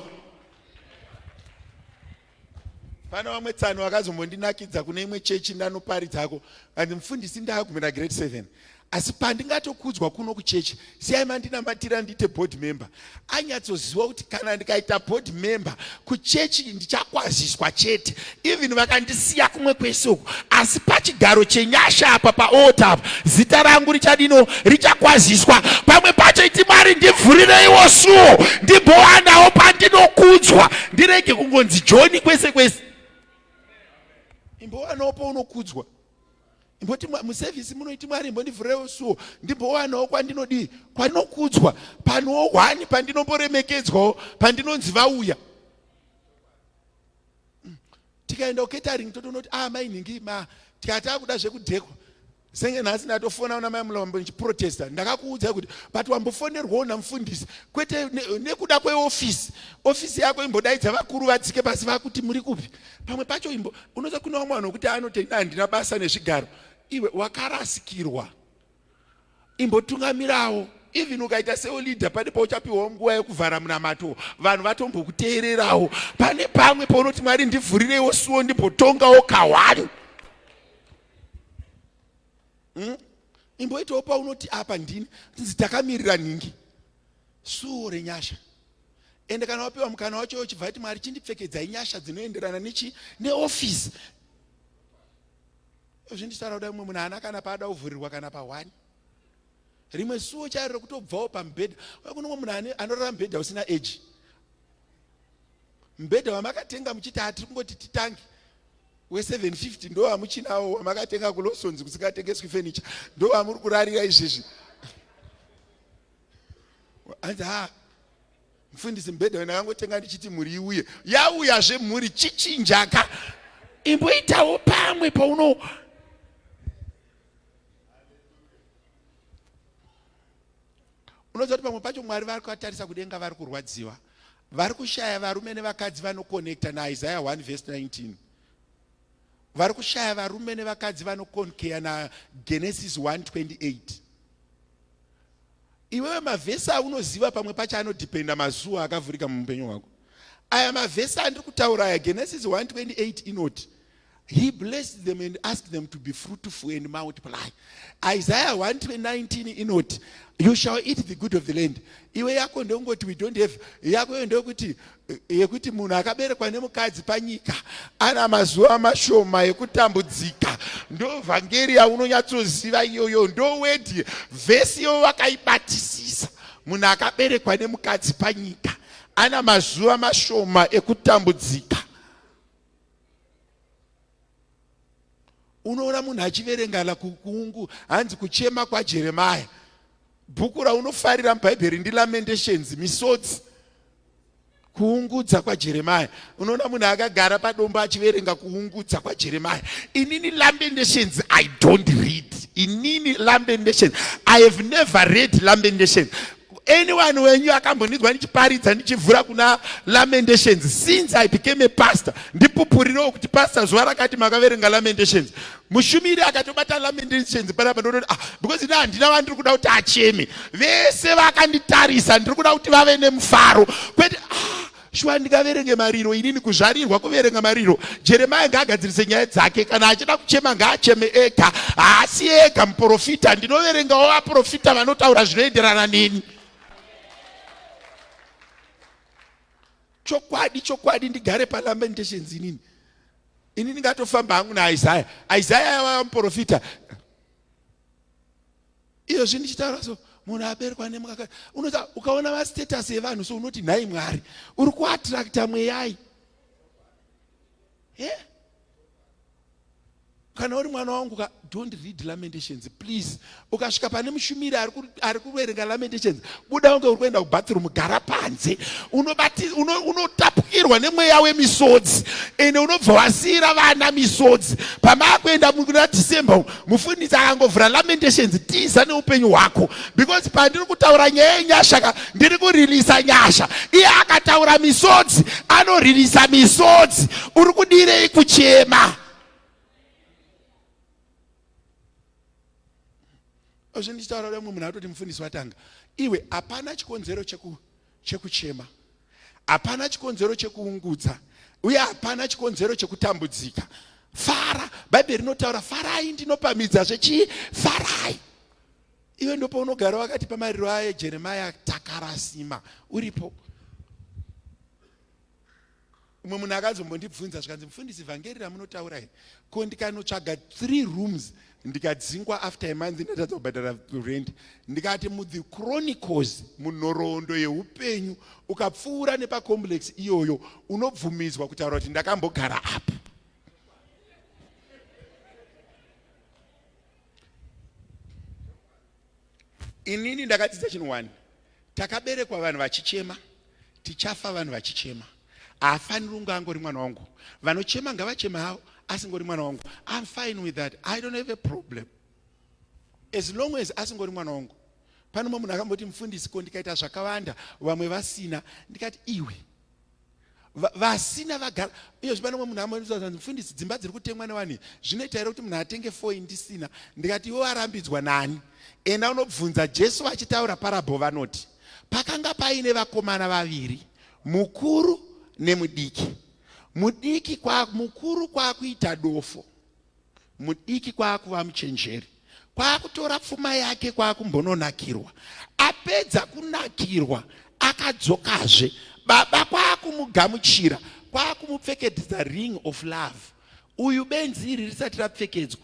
Pane vamwe tsano vakazombondinakidza kune imwe chechi ndanoparidzako and mfundisi ndakagumira grade 7 asi pandingatokudzwa kuno kuchechi siyai mandinamatira ndiite board member anyatsoziva kuti kana ndikaita board member kuchechi ndichakwaziswa chete even vakandisiya kumwe kwese uku asi pachigaro chenyasha apa paota apa zita rangu richadino richakwaziswa pamwe pacho iti mari ndivhurireiwo suo ndimbowanawo pandinokudzwa ndirege kungonzi joni kwese kwese imbowanawo paunokudzwa imboti musevhisi munoiti mwari imbondivhureiwo suo ndimbowanawo kwandinodii kwandinokudzwa panowo hwani pandinomboremekedzwawo pandinonzi vauya tikaenda kuketering totoona kuti ah mai nhingi ma tikatakuda zvekudhekwa senge nhasi ndatofonawo namai mulombo ndichiprotesta ndakakuudzai kuti but wambofonerwawo namufundisi kwete nekuda ne kweofisi ofisi yako imbodaidza vakuru vatsike pasi vakuti muri kupi pamwe pacho imbo unoza kune wamwe vanhu wekuti anotenda handina basa nezvigaro iwe wakarasikirwa imbotungamirawo even ukaita seolida pane pauchapiwawo nguva yekuvhara munamato vanhu vatombokuteererawo pane pamwe paunoti mwari ndivhurireiwo suwo ndimbotongawo kahwani hmm? imboitawo paunoti apa ndini tinzi takamirira nhingi suwo renyasha ende kana wapiwa mukana wacho uchibva ati mwari chindipfekedzai nyasha dzinoenderana nechi neofisi zvinditaura kudai umwe munhu haana kana paada kuvhurirwa kana pahwani rimwe suwo chairo rekutobvawo pamubhedha kune umwe munhu anorara mubhedha usina eji mubhedha wamakatenga muchiti hatiri kungoti titange we750 ndo wamuchinawo wamakatenga kulosons kusikatengeswi fenicha ndo wamuri kurarira izvizvi anzi ha mfundisi mbhedha wena kangotenga ndichiti mhuri iuye yauya zve mhuri chichinjaka imboitawo pamwe pauno unoziva kuti pamwe pacho mwari vari kuvatarisa kudenga vari kurwadziwa vari kushaya varume nevakadzi vanokonekta naisaya 1 vhesi 19 vari kushaya varume nevakadzi vanokonkeya nagenesis 128 iwewe mavhesi aunoziva pamwe pacho anodhipenda mazuva akavhurika mumupenyu hwako aya mavhesi andiri kutaura aya genesis 128 inoti he blessed them and asked them to be fruitful and multiply isaiah 119 inoti you shall eat the good of the land iwe yako ndeungoti we don't have yako yo ndeyokuti yekuti munhu akaberekwa nemukadzi panyika ana mazuva mashoma yekutambudzika ndo vhangeri yaunonyatsoziva iyoyo ndo wedi vhesi iyo vakaibatisisa munhu akaberekwa nemukadzi panyika ana mazuva mashoma ekutambudzika unoona munhu achiverengana kukungu hanzi kuchema kwajeremaya bhuku raunofarira mubhaibheri ndilamendations misodzi kuungudza kwajeremaya unoona munhu akagara padombo achiverenga kuungudza kwajeremaya inini lamentations i don't read inini lamentations i have never read lamentations anyone wenyu akambondidzwa ndichiparidza ndichivhura kuna lamentations since i became a pastor ndipupurirewo kuti pastor zuva rakati makaverenga lamentations mushumiri akatobata lamendations panapa ndototi ah because ini handina vandiri kuda kuti acheme vese vakanditarisa ndiri kuda kuti vave nemufaro kwete ah shuwa ndingaverenge mariro inini kuzvarirwa kuverenga mariro jeremaya ngaagadzirise nyaya dzake kana achida kuchema ngaacheme ega haasi ega muprofita ndinoverengawo vaprofita vanotaura zvinoenderana neni chokwadi chokwadi ndigare palamentations inini ini ndingatofamba hangu naisaya isaya yavaya muprofita iyozvi ndichitaura so munhu aberekwa nemukaka unoza ukaona vastatus evanhu so unoti nhai mwari uri kuattracta mweyai yeah? kana uri mwana wangu ka don't read lamentations please ukasvika pane mushumiri ari kuverenga lamentations buda unge uri kuenda kubathroom gara panze unotapukirwa nemweya wemisodzi ende unobva wasiira vana misodzi pamaakuenda kuna december mufundisi akangovhura lamentations tiza neupenyu hwako because pandiri kutaura nyaya yenyasha ka ndiri kuririsa nyasha iye akataura misodzi anoririsa misodzi uri kudirei kuchema Ozvi ndichitaura lemwe munhu atoti mufundisi watanga. Iwe hapana chikonzero cheku chekuchema. Hapana chikonzero chekuungudza uye hapana chikonzero chekutambudzika. Fara, Bhaibheri rinotaura farai ndinopamidza zvechii? Farai. Iwe ndopaunogara wakati pamariro aye Jeremiah takarasima uripo. umwe munhu akazombondibvunza zvikanzi mufundisi vhangeri ramunotaura iri ko ndikanotsvaga three rooms ndikadzingwa after amonth ndatadza kubhadhara rent ndikati muthe chronicles munhoroondo yeupenyu ukapfuura nepacomplex iyoyo unobvumidzwa kutaura kuti ndakambogara apo inini ndakadzidza chinhu one Takaberekwa vanhu vachichema, tichafa vanhu vachichema. Haafaniri kunge angori mwana wangu. Vanochema ngavachema havo, asingori mwana wangu. I'm fine with that. I don't have a problem. As long as asingori mwana wangu. Pane mumwe munhu akamboti mufundisi ko ndikaita zvakawanda vamwe vasina ndikati iwe vasina vagara iyo zvipano mwe munhu amwe mfundisi dzimba dziri kutengwa newani zvinoita here kuti munhu atenge four indisina ndikati iwe warambidzwa nani enda unobvunza jesu vachitaura parabho vanoti pakanga paine vakomana vaviri mukuru nemudiki mudiki kwa mukuru kwakuita dofo mudiki kwaakuva muchenjeri kwaakutora pfuma yake kwaakumbononakirwa apedza kunakirwa akadzokazve baba kwaakumugamuchira kwaakumupfekedza ring of love uyu benzi iri risati rapfekedzwa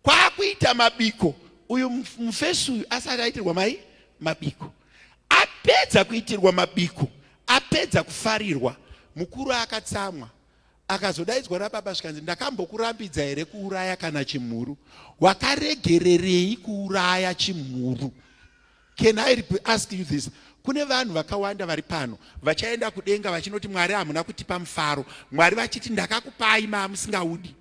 kwaakuita mabiko uyu mufesi uyu asati aitirwa mai mabiko apedza kuitirwa mabiko apedza kufarirwa mukuru akatsamwa akazodaidzwa nababa zvikanzi ndakambokurambidza here kuuraya kana chimhuru wakaregererei kuuraya chimhuru can i ask you this kune vanhu vakawanda vari pano vachaenda kudenga vachinoti mwari hamuna kutipa mufaro mwari vachiti ndakakupai maamusingaudi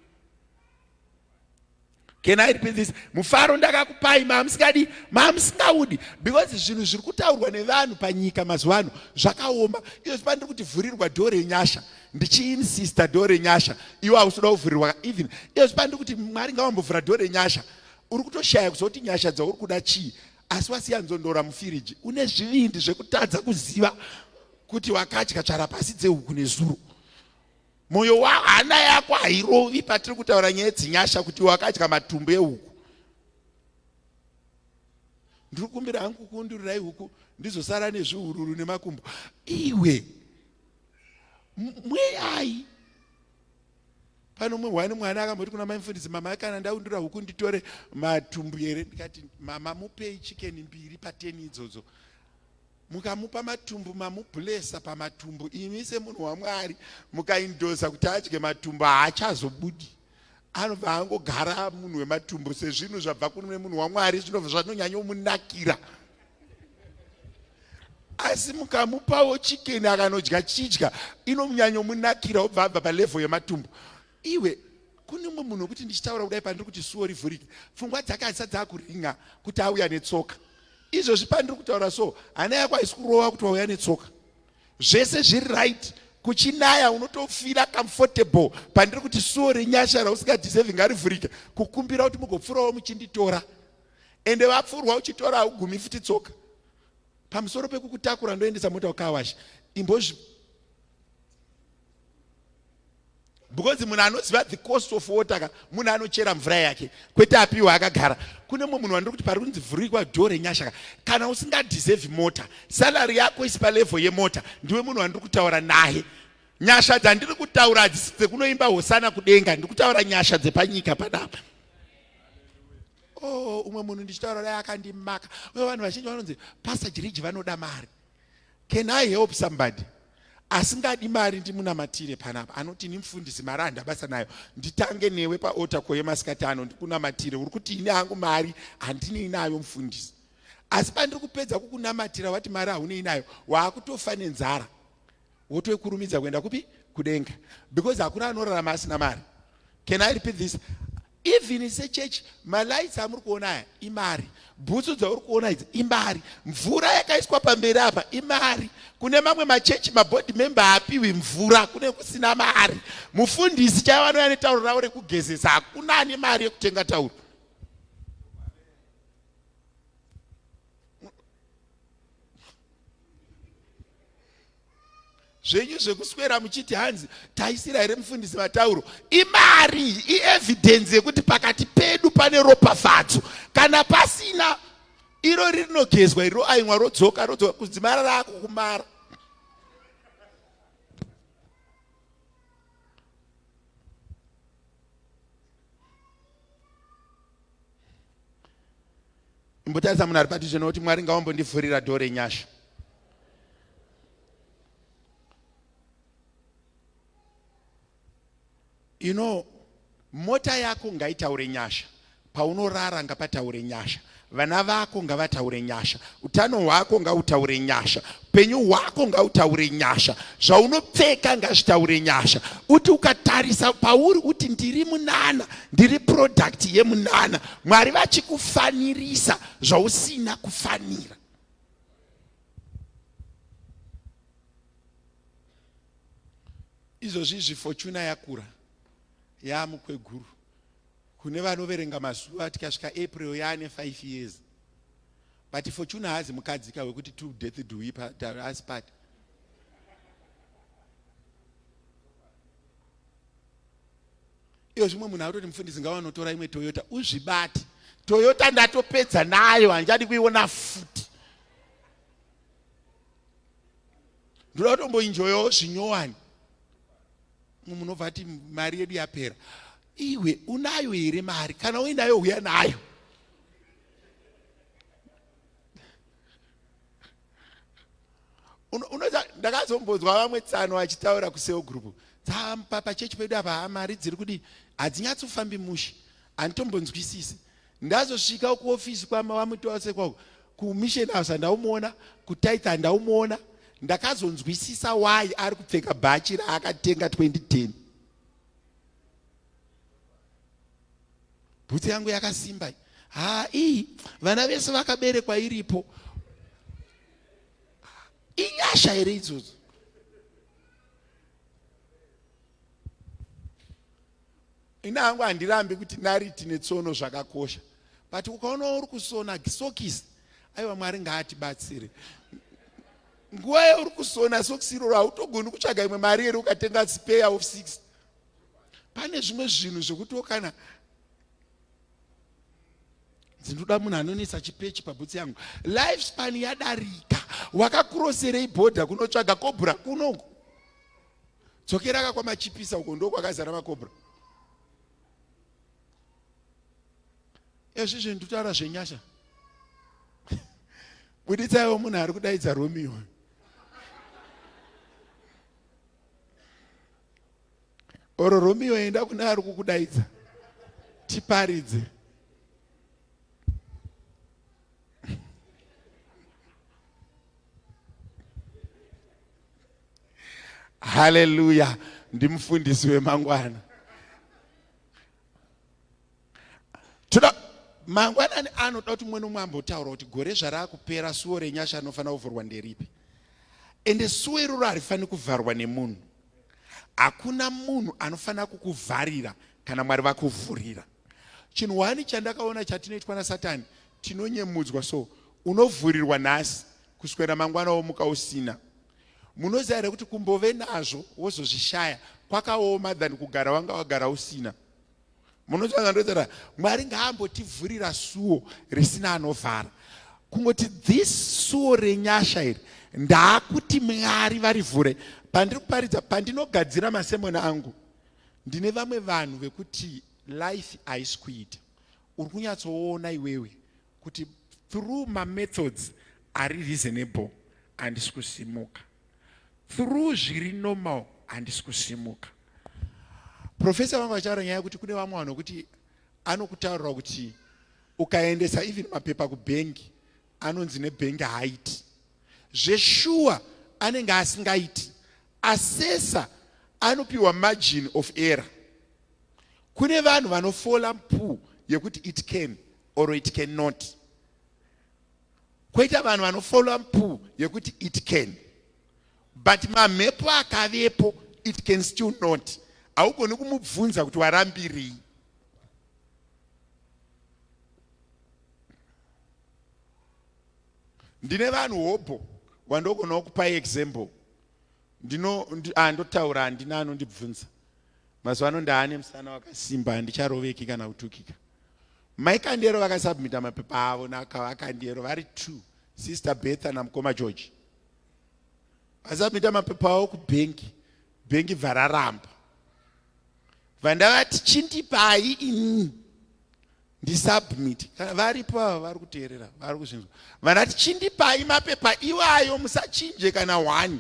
Can I repeat this? Mufaro ndakakupai maamusikadi maamusingaudi because zvinhu zviri kutaurwa nevanhu panyika mazuva ano zvakaoma. Iyo zvipa ndiri kuti vhurirwa door renyasha ndichiinsista door renyasha iwe hausoda kuvhurirwa even iyo zvipa ndiri kuti Mwari ngawambovhura door renyasha uri kutoshaya kuzoti nyasha dzauri kuda chii asi wasiya nzondora mufiriji une zvivindi zvekutadza kuziva kuti wakadya tsvara pasi dzehuku nezuro Moyo wako hana yako hairovi patiri kutaura nyaya dzinyasha kuti wakadya matumbu ehuku. Ndiri kumbira hangu kundurirai huku ndizosara nezvihururu nemakumbo. Iwe mweyai pano umwe wani mwana akamboti kuna mai mfundisi mama kana ndaundura huku nditore matumbu here ndikati mama mupei chikeni mbiri pateni idzodzo mukamupa matumbu mamublesa pamatumbu imi semunhu wamwari mukaindosa kuti adye matumbu haachazobudi anobva angogara munhu wematumbu sezvinhu zvabva kune munhu wamwari zvinobva zvanonyanyomunakira asi mukamupawo chikeni akanodya chidya inomunyanyomunakira obva abva palevho yematumbu Iwe kune umwe munhu wekuti ndichitaura kudai pandiri kuti suwo rivhurike pfungwa dzake hadzisa dzakuringa kuti auya netsoka izvozvi pandiri kutaura so hana yako haisi kurova kuti wauya netsoka zvese zviri right kuchinaya unotofira comfortable pandiri kuti suwo renyasha rausingadeservi ngarivhurike kukumbira kuti mugopfurawo muchinditora ende vapfurwa uchitora haugumi futi tsoka pamusoro pekukutakura ndoendesa mota ukawasha imbozvi because munhu anoziva the cost of water ka munhu anochera mvura yake kwete apiwa akagara kune mumwe munhu wandiri kuti pari kunzi vhurikwa dho renyasha ka kana usingadeserve mota salary yako isi palevel yemota ndiwe munhu wandiri kutaura naye nyasha dzandiri kutaura hadzisi dzekunoimba hosana kudenga ndiri kutaura nyasha dzepanyika panapa o oh, umwe munhu ndichitaura naye akandimaka uye vanhu vazhinji vanonzi pasta jiriji vanoda mari Can I help somebody? asingadi mari ndimunamatire panapa anoti ini mfundisi mari handa basa nayo nditange newe paota koye masikati ano ndikunamatire uri kuti ini hangu mari handinei nayo mfundisi asi pandiri kupedza kukunamatira wati mari haunei nayo waakutofane nzara wotoikurumidza kuenda kupi kudenga because hakuna anorarama asina mari can i repeat this even se church malights amuri kuona aya imari bhutsu dzauri kuona idzi imari mvura yakaiswa pamberi apa imari kune mamwe machechi mabody member apiwi mvura kune kusina mari mufundisi chaivo anouya netauro ravo rekugezesa hakuna ane mari yekutenga tauro zvenyu zvekuswera muchiti hanzi taisira here mufundisi matauro imari ievidence yekuti pakati pedu pane ropafadzo kana pasina iro rinogezwa iro aimwa rodzoka rodzoka kudzimara rako kumara imbotarisa munhu ari padhuze nokuti mwari ngawambondivhurira dho renyasha you know mota yako ngaitaure nyasha paunorara ngapataure nyasha vana vako ngavataure nyasha utano hwako ngautaure nyasha upenyu hwako ngautaure nyasha zvaunopfeka ngazvitaure nyasha uti ukatarisa pauri uti ndiri munana ndiri product yemunana mwari vachikufanirisa zvausina kufanira izvozvi zvifochuna yakura yaamukweguru kune vanoverenga mazuva tikasvika april yaane 5 years But Fortuna haazi mukadzi ka wekuti two death do we part, us part. Iyo zvimwe munhu akutoti mufundisi ngawanotora imwe Toyota uzvibati. Toyota ndatopedza nayo hanjadi kuiona futi. Ndoda kutomboinjoyawo zvinyowani. Mumwe munhu obva ati mari yedu yapera. Iwe unayo here mari kana uinayo huya nayo. unoza ndakazombodzwa vamwe tsano vachitaura kuseo group dzampa pachechi pedu apa mari dziri kudii hadzinyatsofambi mushe handitombonzwisisi ndazosvika kuofisi kwama wamutose kwako kumission house handaumuona kutaitha handaumuona ndakazonzwisisa why ari kupfeka bhachi raakatenga 2010 bhutsu yangu yakasimba haa iyi vana vese vakaberekwa iripo inyasha here idzodzo ini hangu handirambi kuti nariti netsono zvakakosha but ukaona uri kusona sokisi aiwa mwari ngaatibatsire nguva yauri kusona sokisi iroro hautogoni kutsvaga imwe mari here ukatenga speya of six pane zvimwe zvinhu zvekutiwo kana dzinoda munhu anonetsa chipechi pabhutsi yangu life span yadarika wakakuroserei bhodha kunotsvaga kobra kunongo dzokera ka kwamachipisa uko ndo kwakazara makobra ezvizvi nditaura zvenyasha buditsaiwo munhu ari kudaidza romeo or romeo enda kune ari kukudaidza tiparidze haleluya ndimufundisi wemangwana toda mangwanani anoda kuti mumwe nomwe ambotaura kuti gore zvarakupera suwo renyasha anofanira kuvhurwa nderipi ende suwo iroro harifaniri kuvharwa nemunhu hakuna munhu anofanira kukuvharira kana mwari vakuvhurira chinhu wani chandakaona chatinoitwa nasatani tinonyemudzwa so unovhurirwa nhasi kuswera mangwana womuka usina munoziva here kuti kumbove nazvo wozozvishaya kwakaoma than kugara wanga wagara usina munotanga ndotaura mwari ngaambotivhurira suo risina anovhara kungoti this suo renyasha iri ndaakuti mwari varivhure pandiri kuparidza pandinogadzira masemoni angu ndine vamwe vanhu vekuti life haisi kuita uri kunyatsoona iwewe kuti through mamethods ari reasonable handisi kusimuka through zviri normal handisi kusimuka profesa vanga vachitaura nyaya yekuti kune vamwe vanhu vekuti anokutaurira kuti ukaendesa even mapepa kubhengi anonzi nebhengi haaiti zveshuwa anenge asingaiti asesa anopiwa margin of error kune vanhu vanofola mpu yekuti it can or it can not koita vanhu vanofollowa mpu yekuti it can but mamhepo akavepo it can still not haugoni kumubvunza kuti warambirei ndine vanhu hobho wandogonawo kupai example ndino ndi, ah, ndotaura handina anondibvunza mazuva ano ndaane musana wakasimba handicharoveki kana kutukika mai kandero vakasubmita mapepa avo nakavakandero vari two sister betha namukoma george vasubmita mapepa avo kubhengi bhengi bvararamba vandavati chindipai ini ndisubmit kana varipo ava vari kuteerera vari kuzvinzwa vanati chindipai mapepa iwayo musachinje kana hwani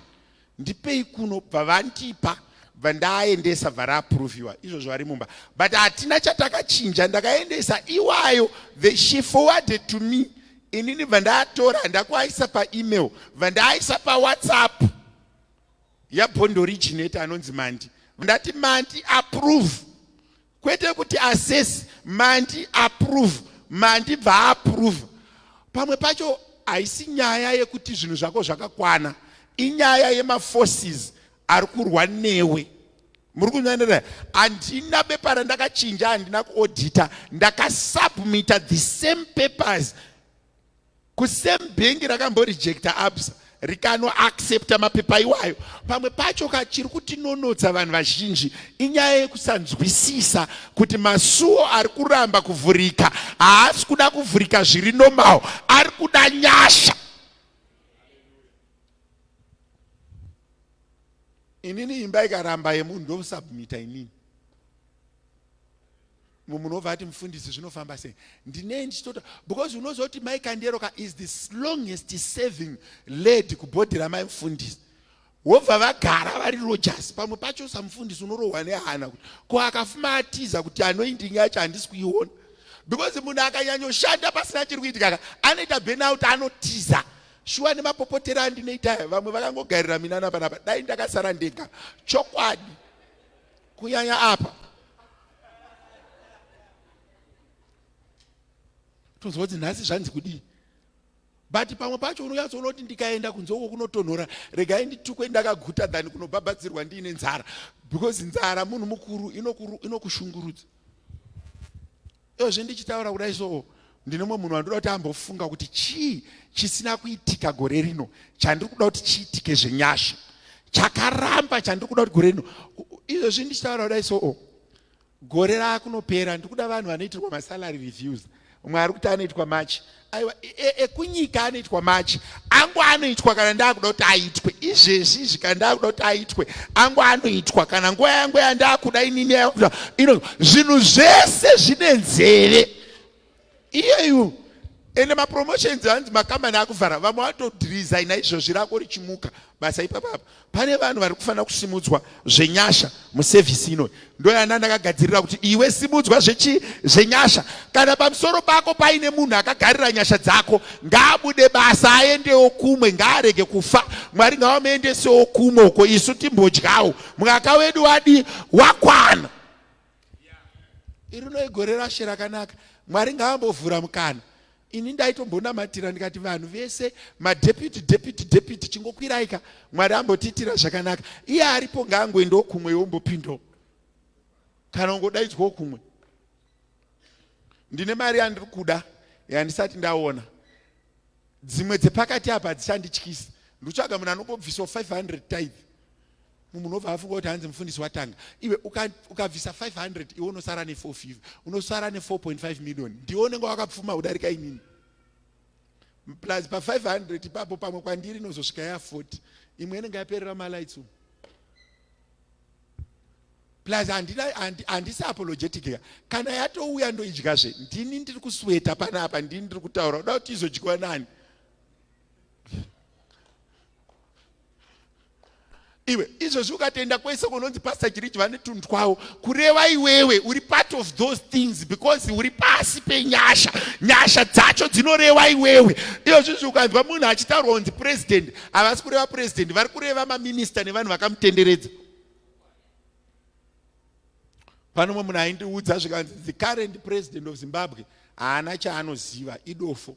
ndipei kuno bva vandipa bva ndaaendesa bva raaproviwa izvozvo vari mumba but hatina chatakachinja ndakaendesa iwayo the she forwarded to me inini bva ndaatora ndakuaisa paemail bva ndaaisa pawhatsapp yabondoriginate anonzi mandi ndati mandi approve kwete kuti assess mandi approve mandi bva approve pamwe pacho haisi nyaya yekuti zvinhu zvako zvakakwana inyaya yemaforces ari kurwa newe muri kunyanira handina bepa randakachinja handina kuodita ndakasubmita the same papers kusame bhengi rakamborejecta absa rikanoaccepta mapepa iwayo pamwe pacho ka chiri kutinonotsa vanhu vazhinji inyaya yekusanzwisisa kuti masuwo ari kuramba kuvhurika haasi kuda kuvhurika zviri normal ari kuda nyasha inini imba ikaramba yemunhu ndosubmita inini mumwe munhu obva ati mufundisi zvinofamba sei ndinei ndichitota because unozoti mai kanderoka is the longest saving lady kubhodhi ramai mufundisi wobva vagara vari rogers pamwe pacho samufundisi unorohwa nehana kuti ko akafuma atiza kuti anoindingi yacho handisi kuiona because munhu akanyanyoshanda pasina chiri kuitikaka anoita benouti anotiza shuwa nemapopotero andinoita vamwe vakangogarira minana panapa dai ndakasara ndega chokwadi kunyanya apa tozwa kuti nhasi zvanzi kudii but pamwe pacho unonyatsoona kuti ndikaenda kunze uko kunotonhora regai nditukwe ndakaguta than kunobhabhadzirwa ndiine nzara because nzara munhu mukuru inokushungurudza Iyo zvendichitaura kudai so ndine mumwe munhu wandoda kuti ambofunga kuti chii chisina kuitika gore rino chandiri kuda kuti chiitike zvenyasha chakaramba chandiri kuda kuti gore rino izvezvi ndichitaura kudai so oh, gore raakunopera ndikuda vanhu vanoitirwa masalary reviews umwe ari kuti anoitwa march aiwa ekunyika e, e anoitwa machi angu anoitwa kana ndakuda kuti aitwe izvezvi izvi kana ndakuda kuti aitwe angu anoitwa kana nguva yangu yandakuda inini ino zvinhu zvese zvine nzeve iyeyu ende mapromotions hanzi makambani akuvhara vamwe vatodirizaina izvozvi rako richimuka basa ipapapa pane vanhu vari kufanira kusimudzwa zvenyasha musevhisi inoyi ndoyana ndakagadzirira kuti iwe simudzwa zvechi zvenyasha kana pamusoro pako paine munhu akagarira nyasha dzako ngaabude basa aendewo kumwe ngaarege kufa mwari ngavamuendesewo kumwe uko isu timbodyawo mwaka wedu wadi wakwana iri no igore rashe rakanaka mwari ngaambovhura mukana ini ndaitombonamatira ndikati vanhu vese madeputy deputy deputy chingokwiraika mwari ambotiitira zvakanaka iye aripo ngaangoendawo kumwe yombopindawo kana ungodaidzwawo kumwe ndine mari yandiri kuda yandisati ndaona dzimwe dzepakati apa hadzichandityisa ndotsvaga munhu anongobviswa 500 type munhu unobva afunga kuti hanzi mufundisi watanga iwe ukabvisa uka 500 iwe unosara ne4 unosara ne4.5 million ndiwe unenge wakapfuma kudarika inini plus pa500 ipapo pamwe kwandiri inozosvika ya40 imwe inenge yaperera malights umu plus handisi apologetic ka kana yatouya ndoidyazve ndini ndiri kusweta panapa ndini ndiri kutaura uda kuti izodyiwa nani iwe izvozvi ukatoenda kwese kunonzi pastor chirichi vane tunhu twavo kureva iwewe uri part of those things because uri pasi penyasha nyasha dzacho dzinoreva iwewe iyozvizvi ukanzwa munhu achitaurwa kunzi president havasi kureva president vari kureva maminista nevanhu vakamutenderedza pane umwe munhu aindiudza zvikanzi the current president of zimbabwe haana chaanoziva idofo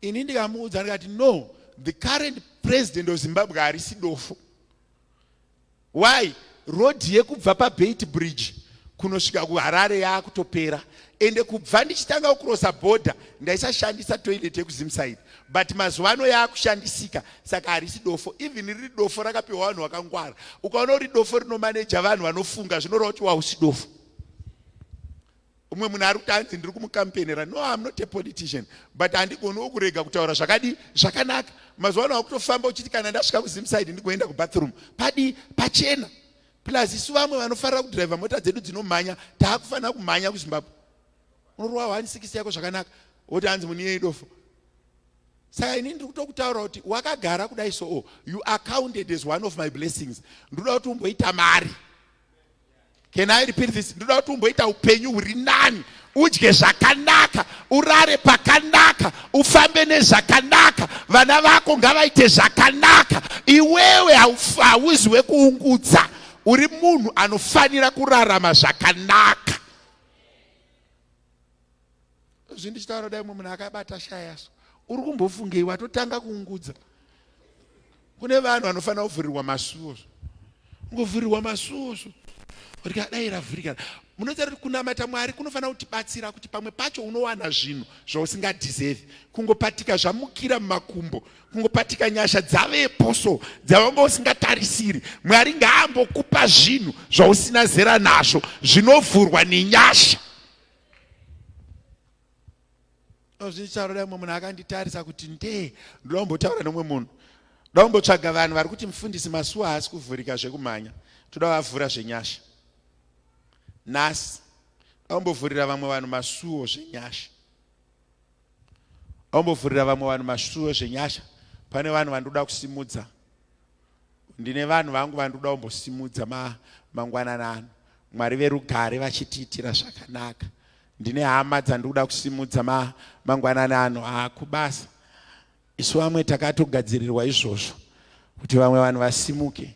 Ini ndikamuudza ndikati no the current president of Zimbabwe harisi dofo. Why? Road yekubva paBeit Bridge kunosvika kuHarare yaakutopera ende kubva ndichitanga kucrossa border ndaisashandisa toilet yekuzimside but mazuva ano yaakushandisika saka harisi dofo even riri dofo rakapiwa vanhu vakangwara ukaona uri dofo rinomaneja vanhu vanofunga zvinoreva kuti wausi dofo umwe munhu ari kuti hanzi ndiri kumukampenera no am not a politician but handigoniwo kurega kutaura zvakadi zvakanaka mazuva ano akutofamba uchiti kana ndasvika kuzimside ndigoenda kubathroom padi pachena plus isu vamwe vanofarira kudriver mota dzedu dzinomhanya taakufanira kumhanya kuzimbabwe unorowa one six yako zvakanaka woti hanzi muniye idofo saka ini ndiri kutokutaura kuti wakagara kudai soo you are counted as one of my blessings ndinoda kuti umboita mari Can I repeat this? Ndoda kuti umboita upenyu huri nani, udye zvakanaka, urare pakanaka, ufambe nezvakanaka, vana vako ngavaite zvakanaka. Iwewe hauzi wekuungudza, uri munhu anofanira kurarama zvakanaka. zvi ndichitaura dai mumwe munhu akabata shaya so uri kumbofungei watotanga kuungudza kune vanhu vanofanira kuvhurirwa masuo zvo ungovhurirwa masuo zvo rika dai ravhurika munoziva kuti kunamata mwari kunofanira kutibatsira kuti pamwe pacho unowana zvinhu zvausingadeserve kungopatika zvamukira mumakumbo kungopatika nyasha dzavepo so dzavanga usingatarisiri mwari ngaambokupa zvinhu zvausina zera nazvo zvinovhurwa nenyasha zvindichaura dai mumwe munhu akanditarisa kuti ndee ndoda kumbotaura nomwe munhu ndoda kumbotsvaga vanhu vari kuti mufundisi masuwa haasi kuvhurika zvekumhanya toda vavhura zvenyasha nhasi ndoda kumbovhurira vamwe vanhu masuwo zvenyasha Aumbovhurira vamwe vanhu masvuro zvenyasha. Pane vanhu vandoda kusimudza. Ndine vanhu vangu vandoda kumbosimudza ma, mangwanana ano. Mwari verugare vachitiitira zvakanaka. Ndine hama dzandikuda kusimudza ma, mangwanana ano akubasa. Isu vamwe takatogadzirirwa izvozvo kuti vamwe vanhu vasimuke.